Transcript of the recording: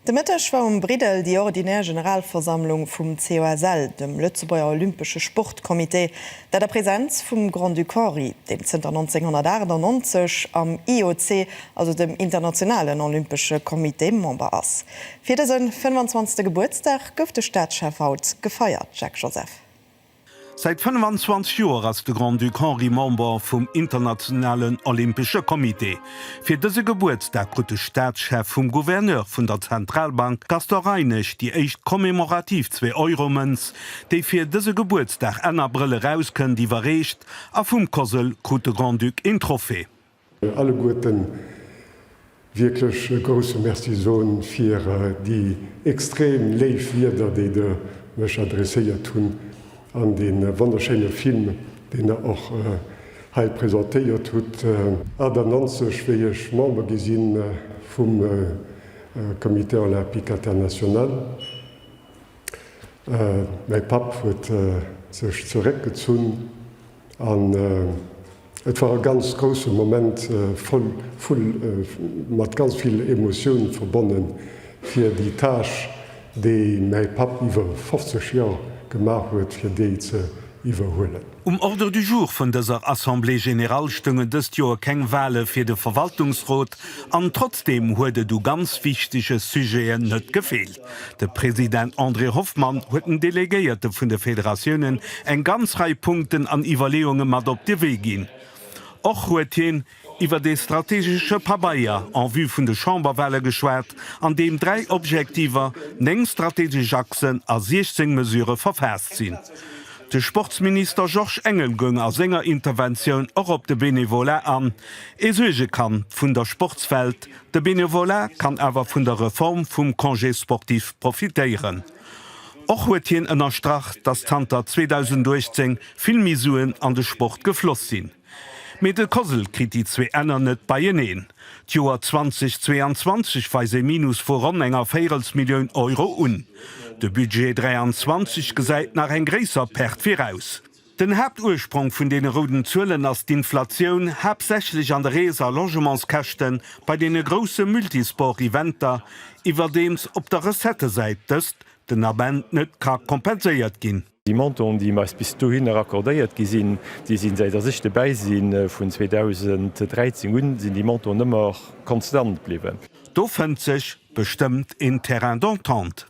De Mëtteg war um Briddel déi ordinär Generalversammlung vum COSL, dem Lëtzebuerger Olympesche Sportcomité, dat a Präsenz vum Grand-Duc Henri, deem zënter 1998 am IOC, also dem Internationalen Olympesche Comité, Member ass. Fir dëse 25. Gebuertsdag gouf de Staatschef haut gefeiert, Jacques Joseph. Säit 25 Joer ass de Grand-Duc Henri Member vum Internationalen Olympesche Comité. Fir dëse Gebuertsdag krut de Staatschef vum Gouverneur vun der Zentralbank Gaston Reinesch déi éischt commemorativ Zwee-Euro-Mënz, déi fir dëse Gebuertsdag Enn Abrëll erauskënnt, iwwerreecht a vum COSL krut de Grand-Duc een Trophée. alleguerten wierklech e grousse Merci soen fir déi extrem léif Wieder, déi Der mech adresséiert hunn, an dee wonnerschéine Film, deen Der och hei presentéiert hutt. 98, wéi ech Member gi si vum Comité Olympique International. Mäi Papp huet sech zeréckgezunn. An et war e ganz grousse Moment, voll vu, mat ganz vill Emotioun verbonnen, fir déi Tâche, déi mäi Papp iwwer 50 Joer gemaach huet, fir déi ze iwwerhuelen. Um Ordre du jour vun dëser Assemblée générale stoungen dëst Joer keng Wahle fir de Verwaltungsrot an trotzdeem huet et u ganz wichtege Sujeten net gefeelt. De President André Hoffmann huet den Delegéierte vun de Federatiounen eng ganz Rei Punkten an Iwwerleeunge mat op de Wee ginn. Och huet hien iwwer ee strategesche Pabeier en vue vun de Chamberwahle geschwat, an deem dräi Objektiver, néng strategesch Achsen a 16 Mesurë verfaasst sinn. De Sportsminister Georges Engel goung a senger Interventioun och op de Bénévolat an, ee Suergekand vun der Sportswelt, De Bénévolat kann awer vun der Reform vum Congé sportif profitéieren. Och huet hien ënnerstrach, datt zanter 2018 vill méi Suen an de Sport gefloss sinn. Mee de COSL kritt déi zwee Enner net beieneen. D'Joer 2022 weist ee Minus vu ronn enger Véirelsmillioun Euro un. De Budget 23 gesäit nach eng gréisser Perte viraus. Den Haaptursprong vun deene rouden Zuelen ass d'Inflatioun, haaptsächlech an de Rees a Logementskäschten bei deene grousse Multisport-Eventer, iwwerdeems op der Recettesäit dëst den Ament net ka kompenséiert ginn. Déi Montanten, déi eis bis dohinner accordéiert gi sinn, déi sinn, säit dass ech dobäi sinn, vun 2013 un, sinn déi Montanten ëmmer konstant bliwwen. Do fënnt sech bestëmmt een Terrain d'entente.